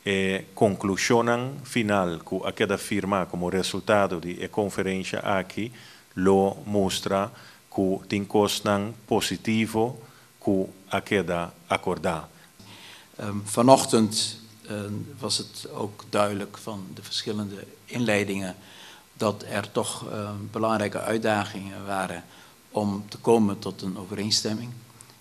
E conclusionnan final cu a keda firma como resultado di e conferencia aki lo mustra cu tin cosnan positivo cu a keda acorda. Vanochtend was het ook duidelijk van de verschillende inleidingen dat er toch belangrijke uitdagingen waren om te komen tot een overeenstemming.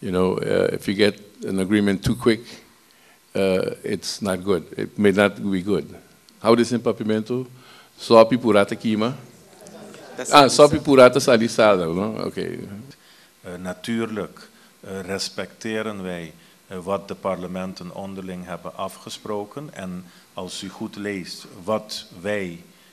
you know if you get an agreement too quick it's not good it may not be good how they say papiamento sopi pura ta kima ah sopi pura ta sali sal no ok. Natuurlijk respecteren wij wat de parlementen onderling hebben afgesproken en als u goed leest wat wij